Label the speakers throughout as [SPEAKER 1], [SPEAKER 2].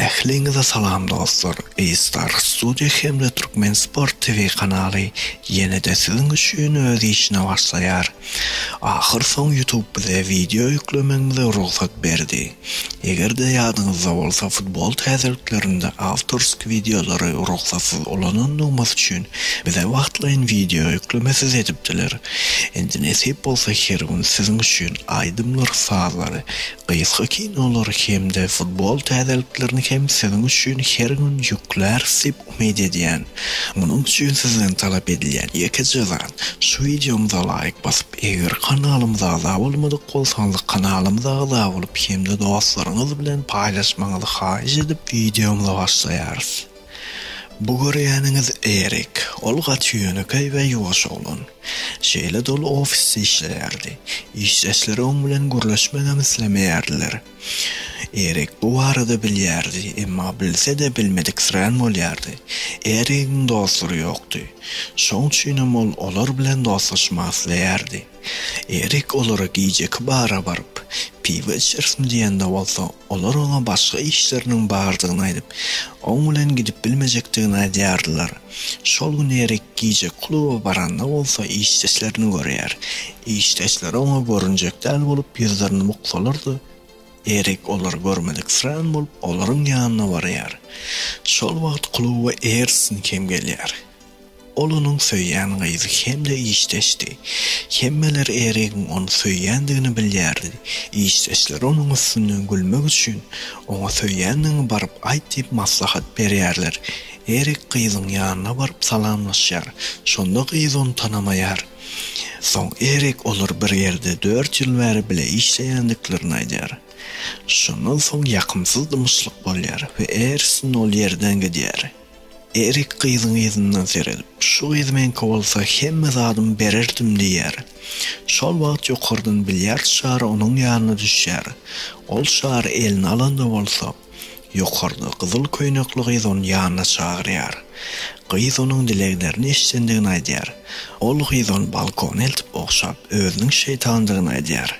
[SPEAKER 1] Ähliňize salam dostlar, A-Star Studio hemde Türkmen Sport TV kanaly ýene-de siziň üçin öz işine başlaýar. Ahyrsoň YouTube bize wideo ýüklemegimize rugsat berdi. Eger-de ýadyňyzda bolsa futbol täzeliklerinde awtorsk wideolary rugsatsyz ulanandygymyz üçin bize wagtlaýyn wideo ýüklemesiz edipdiler. Indi nesip bolsa her gün siziň üçin aýdymlary, sazlary Gysga kinolary hem-de futbol täzeliklerini hem siziň üçin her gün ýükläris diýip umyt edýän. Munuň üçin sizden talap edilýän ýekeje zat, şu wideomyza laýk basyp, eger kanalymyza agza bolmadyk bolsaňyz kanalymyza agza bolup hem-de dostlaryňyz bilen paýlaşmagyňyzy haýyş edip wideomyza başlaýarys. Bu görýäniňiz Erik. Ol gaty ýönekeý we ýuwaş oglan. Şeýle doly ofisde işleýärdi. Işdeşleri oň bilen gürleşmegem islemeýärdiler. Erik bu barada bilýärdi, emma bilse-de bilmediksirän bolýardy. Erigiň dostlary ýokdy. Şoň üçinem ol olar bilen dostlaşmak isleýärdi. Erik olara gijeki bara baryp, piwe içersiň diýende bolsa, olar oňa başga işleriniň bardygyny aýdyp, oň bilen gidip bilmejekdigini aýdýardylar. Şol gün Erik gije kluba baranda bolsa işdeşlerini görýär. Işdeşleri oňa görünjek däl bolup ýüzlerini buksalar-da, Erik olary görmediksirän bolup olaryň ýanyna barýar. Şol wagt kluba Ersin hem gelýär. Ol onuň söýýän gyzy hem-de işdeşdi. Hemmeler Erigiň ony söýýändigini bilýärdi. Işdeşler onuň üstünden gülmek üçin, oňa söýýändigiňi baryp aýt diýip maslahat berýärler. Erik gyzyň ýanyna baryp salamlaşýar. Şonda gyz ony tanamaýar. Soň Erik olar bir ýerde dört ýyl bäri bile işleýändiklerini aýdýar. Şondan soň ýakymsyz dymyşlyk bolýar we Ersin ol ýerden gidýär. Erik gyzyň yzyndan seredip, Şu gyz meňki bolsa hemme zadym bererdim diýýär. Şol wagt ýokardan bilýard şary onuň ýanyna düşýär. Ol şary eline alanda bolsa, ýokarda gyzyl köýnekli gyz ony ýanyna çagyrýar. Gyz onuň dileglerini eşidendigini aýdýar. Ol gyz ony balkona eltip ogşap, özüniň şeýtandygyny aýdýar.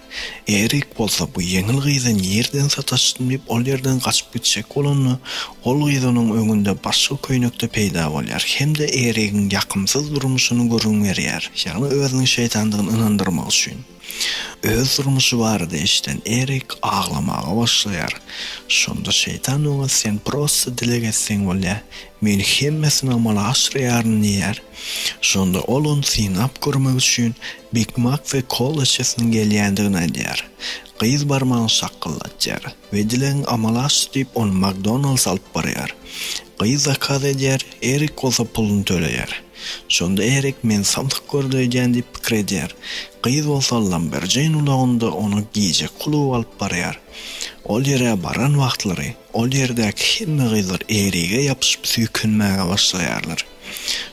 [SPEAKER 1] Erik bolsa bu ýeňil gyzy nireden sataşdym diýip ol ýerden gaçyp gitjek bolanda, Ol gyz onuň öňünde başga köýnekde peýda bolýar hem-de Erigiň ýakymsyz durmuşyny gürrüň berýär, ýagny özüniň şeýtandygyny ynandyrmak üçin. Öz durmuşy barada eşiden Erik aglamaga başlaýar. Şonda şeýtan oňa sen prosta dileg etseň bolýar, men hemmesini amala aşyrýaryn diýýär. Şonda ol ony synap görmek üçin Big Mak we kola içesiniň gelýändigini aýdýar. Gyz barmagyny şakgyldatýar. We dilegiň amala aşdy diýip ony McDonald's alyp barýar. Gyz zakaz edýär, Erik bolsa puluny töleýär. Şonda Erik meni samsyk gördi öýdýän diýip pikir edýär. Gyz bolsa Lamberjeýn ulagynda ony gije kluba alyp barýar. Ol ýere baran wagtlary ol ýerdäki hemme gyzlar Erige ýapyşyp süýkenmäge başlaýarlar.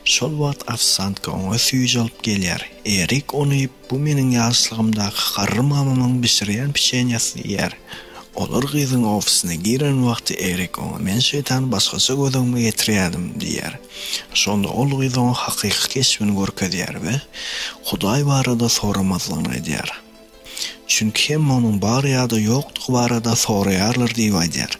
[SPEAKER 1] Şol wagt ofsiantka oňa süýji alyp gelýär. Erik ony iýip Bu meniň ýaşlygymdaky garry mamamyň bişirýän pişenýasyny iýer. Olar gyzyň ofisine giren wagty Erik oňa men şeýtany başgaça göz öňüme getirýärdim diýýär. Şonda ol gyz oňa hakyky keşbini görkezýär we Hudaý barada soramazlygyny aýdýar. Çünki hemme onuň bar ýa-da ýokdugy barada soraýarlar diýip aýdýar.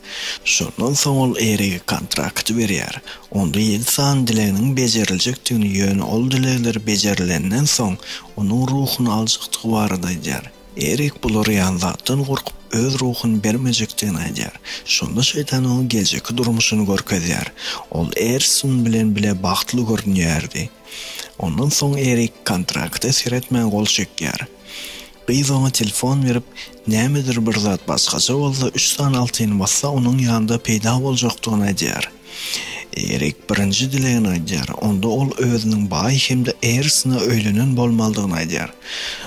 [SPEAKER 1] Şondan soň ol Erige kontrakty berýär. Onda ýedi sany dileginiň bejeriljekdigini, ýöne ol dilegler bejerilenden soň, onuň ruhuny aljakdygy barada aýdýar. Erik bulara ýanzapdan gorkup, öz ruhuny bermejekdigini aýdýar. Şonda Şeýtan oňa geljekki durmuşyny görkezýär. Ol Ersun bilen bile bagtly görünýärdi. Ondan soň Erik kontrakta seretmän gol çekýär. Gyz oňa telefon berip, nämedir bir zat başgaça bolsa, üç sany altyny bassa, onuň ýanda peýda boljakdygyny aýdýar. Erik birinji dilegini aýdýar. Onda ol özüniň baý hem-de Ersine öýlenen bolmalydygyny aýdýar.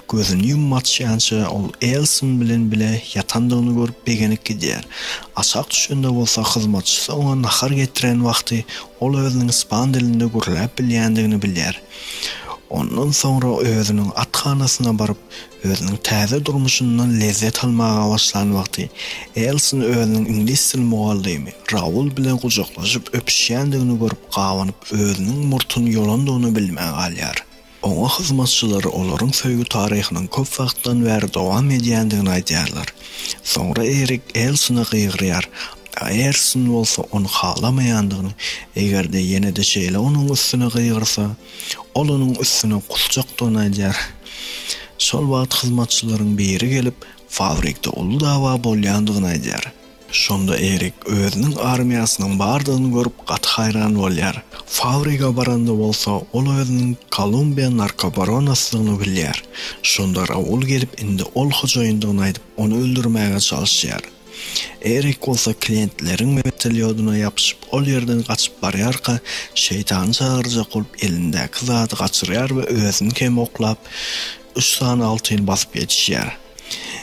[SPEAKER 1] Gözüni ýumup açýança, ol Ersin bilen bile ýatandygyny görüp begenip gidýär. Aşak düşende bolsa hyzmatçysy oňa nahar getiren wagty ol özüniň ispan dilinde gürläp bilýändigini bilýär. Ondan soňra özüniň athanasyna baryp, özüniň täze durmuşyndan lezzet almaga başlan wagty, Elsin özüniň iňlis dil mugallymy Raul bilen gujaklaşyp öpüşýändigini görüp gabanyp, özüniň murtuny ýolandygyny bilmän galýar. Oňa hyzmatçylary olaryň söýgi taryhynyň köp wagtdan bäri dowam edýändigini aýdýarlar. Soňra Erik Elsine gygyrýar, Aýerson bolsa ony halamaýandygyny, eger-de ýene-de şeýle onuň üstüne gygyrsa, ol onuň üstüne gusjakdygyny aýdýar. Şol wagt hyzmatçylaryň biri gelip, fabrikde uly dawa bolýandygyny aýdýar. Şonda Erik özüniň armiýasynyň bardygyny görüp gaty haýran bolýar. Fabrige baranda bolsa, ol özüniň Kolumbiýa narkobaronasydygyny bilýär. Şonda Raul gelip indi ol hojaýyndygyny aýdyp, ony öldürmäge çalyşýar. Erik bolsa klientleriň wertolýodyna ýapyşyp, ol ýerden gaçyp barýarka, şeýtany çagyrjak bolup elindäki zady gaçyrýar we özüni hem oklap, üç sany altyn basyp ýetişýär.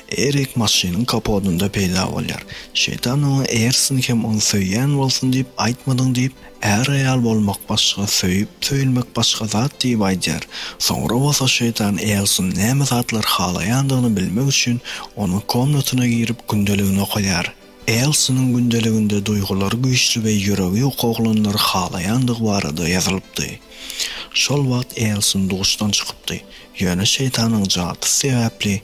[SPEAKER 1] Erik maşynyň kapodynda peýda bolýar. Şeýtan oňa Eger siň hem ony söýýän bolsun diýip aýtmadyň diýip, Är-aýal bolmak başga, söýüp-söýülmek başga zat diýip aýdýar. Soňra bolsa şeýtan Elsun näme zatlar halaýandygyny bilmek üçin onuň komnatyna girip gündeligini okaýar. Elsunyň gündeliginde duýgulary güýçli we ýüregi ýok oglanlary halaýandygy barada ýazylypdy. Şol wagt Elsun duşdan çykypdy, ýöne şeýtanyň jadysy sebäpli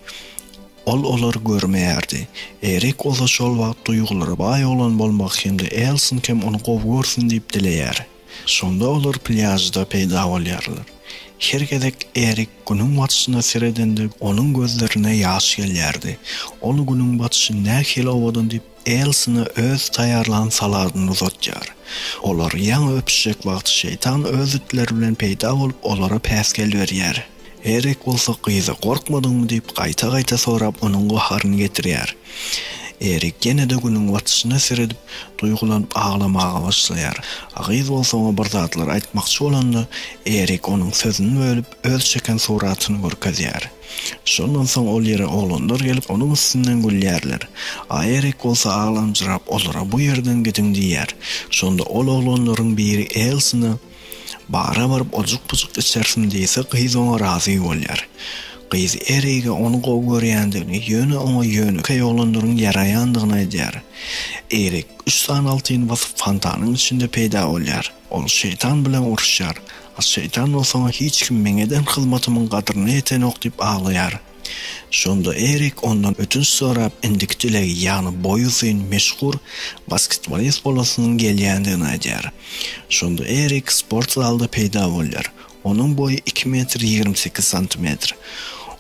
[SPEAKER 1] Ol olary görmeýärdi. Erik oza şol wagt duýgulara baý oglan bolmak hem-de Elson kem ony gowy görsün diýip dileýär. Şonda olar plýažda peýda bolýarlar. Her gezek Erik Günüň batyşyna seredende, onuň gözlerine ýaş gelýärdi. Ol Günüň batyşy nähili owadan diýip, Elsina öz taýýarlan saladyny uzatýar. Olar ýaňy öpüşjek wagty şeýtan öz itleri bilen peýda bolup, olara päsgel berýär. Erik bolsa gyzy gorkmadyňmy diýip gaýta-gaýta sorap onuň gaharyny getirýär. Erik ýene-de günüň batyşyna seredip, duýgulanyp aglamaga başlaýar. A gyz bolsa oňa bir zatlar aýtmakçy bolanda, Erik onuň sözüni bölüp, öz çeken suratyny görkezýär. Şondan soň ol ýere oglanlar gelip, onuň üstünden gülýärler. Aýerek bolsa aglamjyrap, olara bu ýerden gidiň diýýär. Şonda ol oglanlaryň biri Elsine, Bara baryp ojuk-pujuk içersiň diýse, gyz oňa razy bolýar. Gyz Erige ony gowy görýändigini, ýöne oňa ýönekeý oglanlaryň ýaraýandygyny aýdýar. Erik üç sany altyn basyp fontanyň içinde peýda bolýar. Ol şeýtan bilen uruşýar. A şeýtan bolsa hiç kim meň eden hyzmatymyň gadryna ýetenok diýip aglaýar. Şonda Erik ondan ötünç sorap, indiki dilegi, ýagny boýy uzyn, meşhur basketbolist bolasynyň gelýändigini aýdýar. Şonda Erik sport zalda peýda bolýar. Onuň boýy iki metr ýigrimi sekiz santimetr.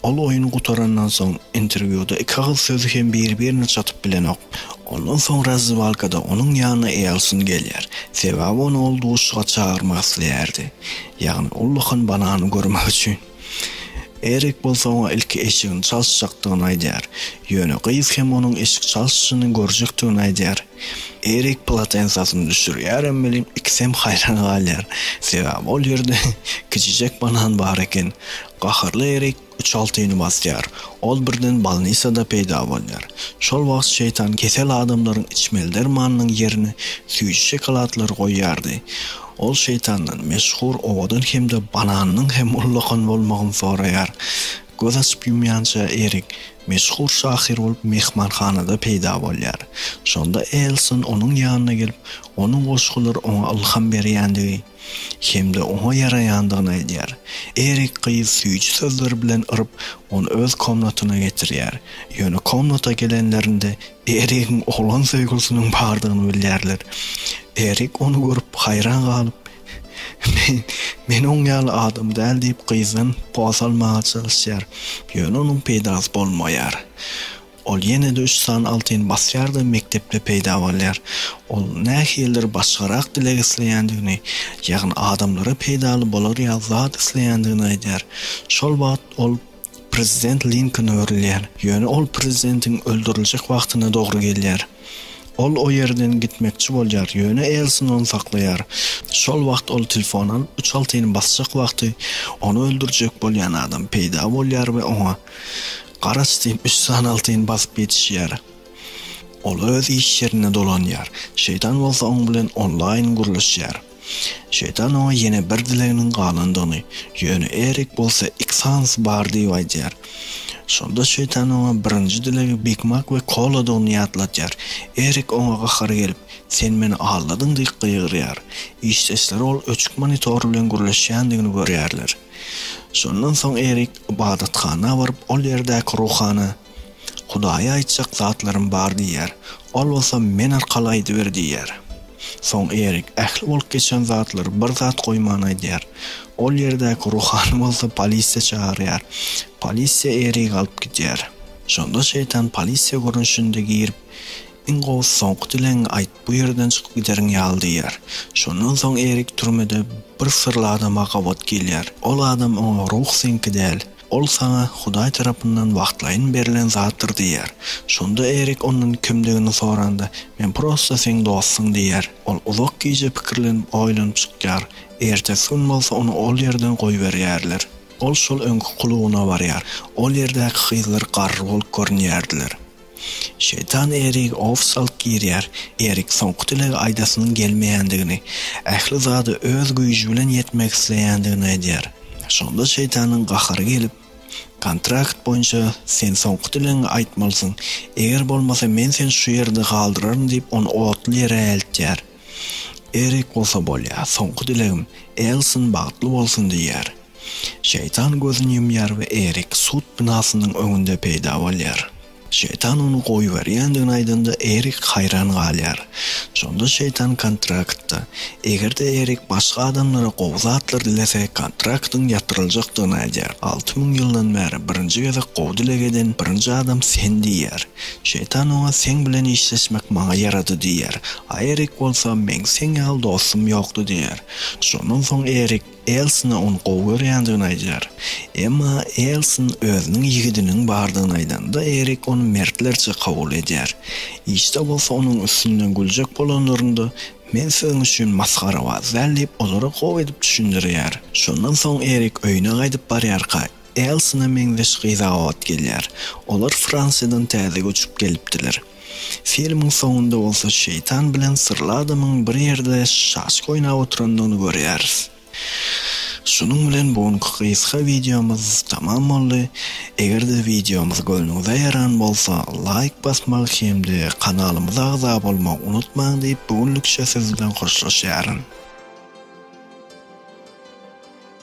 [SPEAKER 1] Ol oýun gutarandan soň, interwýuda iki agyz sözi hem bir-birine çatyp bilenok. Ondan soň razdewalkada onuň ýanyna Elsin gelýär. Sebäbi ony ol duşuşyga çagyrmak isleýärdi. Ýagny ullakan banany görmek üçin. Erik bolsa oňa ilki eşigini çalyşjakdygyny aýdýar. Ýöne gyz hem onuň eşik çalyşyny görjekdigini aýdýar. Erik polatensasyny düşürýärem welin, ikisem haýran galýar. Sebäbi ol ýerde kiçijek banan bar eken. Gaharly Erik uçaltyny basýar. Ol birden bolnisada peýda bolýar. Şol wagt şeýtan kesel adamlaryň içmeli dermanynyň ýerine süýji şokoladlary goýýardy. Ol şeýtandan meşhur owadan hem-de bananynyň hem ullakan bolmagyny soraýar. Göz açyp-ýumýança Erik Meşhur şahyr bolup myhmanhanada peýda bolýar. Şonda Elson onuň ýanyna gelip, onuň goşgulary oňa ylham berýändigi hem-de oňa ýaraýandygyny aýdýar. Erik gyz süýji sözler bilen yryp, ony öz komnatyna getirýär. Ýöne komnata gelenlerinde Erigiň oglan söýgülisiniň bardygyny bilýärler. Erik ony görüp haýran galyp. Men, men oň ýaly adam däl diýip gyzdan pol salmaga çalyşýar. Ýöne onuň peýdasy bolmaýar. Ol ýene-de üç sany altyn basýar-da mekdepde peýda bolýar. Ol nähilidir başgarak dileg isleýändigini, ýagny adamlara peýdaly bolar ýaly zat isleýändigini aýdýar. Şol wagt ol Prezident Linkoln öwrülýär, ýöne ol prezidentiň öldüriljek wagtyna dogry gelýär. Ol o ýerden gitmekçi bolýar, ýöne Elsin ony saklaýar. Şol wagt ol telefon alyp, üç altyny basjak wagty, ony öldürjek bolýan adam peýda bolýar we oňa, Garaç diýip, üç sany altyny basyp ýetişýär. Ol öz iş ýerine dolanýar, Şeýtan bolsa oň bilen onlaýn gürleşýär. Şeýtan oňa ýene bir dileginiň galandygyny, ýöne Erik bolsa iki sanysy bar diýip aýdýar. Şonda şeýtan oňa birinji dilegi bigmak we koladygyny ýatladýar. Erik oňa gahary gelip, Sen meni aldadyň diýip gygyrýar. Işdeşleri ol öçük monitor bilen gürleşýändigini görýärler. Şondan soň Erik ybadathana baryp, ol ýerdäki ruhana, Hudaýa aýtjak zatlarym bar diýýär. Ol bolsa men arkaly aýdyber diýýär. Soň Erik ähli bolup geçen zatlary bir zat goýman aýdýar. Ol ýerdäki ruhany bolsa polisiýa çagyrýar. Polisiýa Erigi alyp gidýär. Şonda şeýtan polisiýa görnüşinde girip, Iň gowusy soňky dilegiňi aýt, bu ýerden çykyp gideriň ýaly diýýär. Şondan soň Erik türmede bir syrly adama gabat gelýär. Ol adam oňa Ruh seňki däl. Ol saňa Hudaý tarapyndan wagtlaýyn berlen zatdyr diýer. Şonda Erik ondan kimdigini soranda, Men prosta seň dostuň diýer. Ol uzak gije pikirlenip, oýlanyp çykýar. Ertesi gün bolsa ony ol ýerden goýberýärler. Ol şol öňki klubyna barýar. Ol ýerdäki gyzlar garry bolup görünýärdiler. Şeýtan Erig ofs alyp girýär. Erik soňky dilegi aýdasynyň gelmeýändigini, ähli zada öz güýji bilen ýetmek isleýändigini aýdýar. Şonda şeýtanyň gahary gelip, Kontrakt boýunça sen soňky dilegiňi aýtmalysyň. Eger bolmasa men seni şu ýerde galdyraryn diýip ony otly ýere eltýär. Erik bolsa bolýar, soňky dilegim Elsin bagtly bolsun diýýär. Şeýtan gözüni ýumýar we Erik sud binasynyň öňünde peýda bolýar. Şeýtan ony goýberýändigini aýdanda Erik haýran galýar. Şonda şeýtan kontraktda, eger-de Erik başga adamlara gowy zatlar dilese, kontraktyň ýatyryljakdygyny aýdýar. Alty müň ýyldan bäri birinji gezek gowy dileg eden birinji adam sen diýýär. Şeýtan oňa seň bilen işleşmek maňa ýarady diýer. A Erik bolsa meň seň ýaly dostum ýokdy diýer. Şondan soň Erik Elsine ony gowy görýändigini aýdar. Emma Elsin özüniň ýigidiniň bardygyny aýdanda Erik ony mertlerçe kabul edýär. Işde bolsa onuň üstünden güljek bolanlarynda Men siziň üçin masgarabaz däl diýip olara gowy edip düşündirýär. Şondan soň Erik öýüne gaýdyp barýarka, Elsine meňzeş gyz-a ot gelýär. Olar Fransiýadan täze göçüp gelipdiler. Filmiň soňunda bolsa şeýtan bilen syrly adamyň bir ýerde şaşka oýnap oturandygyny görýäris. Şunuň bilen bu günki gysga wideomyz tamam boldy. Eger-de wideomyz göwnüňize ýaran bolsa, laýk basmagy hem-de kanalymyza agza bolmagy unutmaň diýip, bu günlükçe siz bilen hoşlaşýaryn.